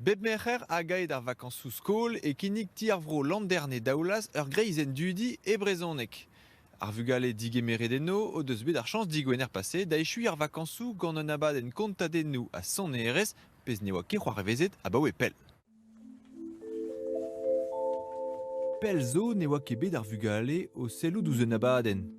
Bep Merc'her hag aet ar vakañsoù-skol e kinnig Ti ar Vro Landerne-Daoulaz ur greizenn-dudi e brezhoneg. Ar vugale digemeret eno o deus bet ar chañs digwener paset da echuiñ ar vakañsoù gant un abadenn kontadennoù ha sonerezh, pezh ne oa ket c'hoarvezet abaoe pell. Pell zo ne oa ket bet ar vugale o sellout ouzh un abadenn.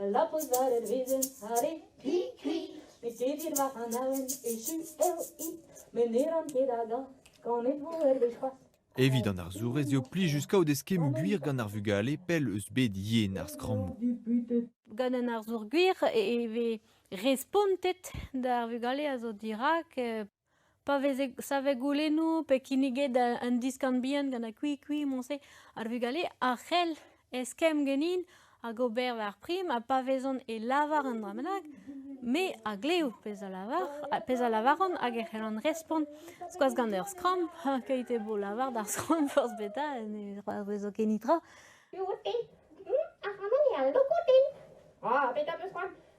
Ul labous war ur wezenn arre kwi-kwi, met evit war an awen echu eo-hi, met ne ran ket hagañ kanennoù hervez c'hoazh. Evit an arzourez eo plijus kaout eskemm gwir gant ar vugale pell eus bed yen ar skrammoù. Gant un arzour gwir e vez respontet d'ar vugale a zo dirak. Pa veze savet goulennoù pe kinniget un diskan bihan gant ar Kwee-Kwee moñse, ar vugale a c'hell eskemm ganin hag ober war prim ha pa vezont e lavar un dra bennak, me a glev pezh a lavar, pezh a lavaran hag e c'hellan respont. Skoaz gant ur skramm, keit eo bo lavar d'ar skramm forzh petra, ne c'hoarvezo ket netra.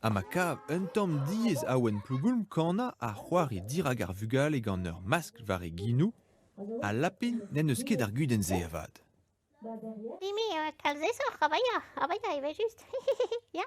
Ha ma kav un tamm diaes Awen Plougoulm kanañ ha c'hoari dirak ar vugale gant ur maskl war e ginoù, ha Lapin n'en deus ket ar gudenn-se avat. Mimi, kalzesoc'h, avaia, avaia, evel-just, ya.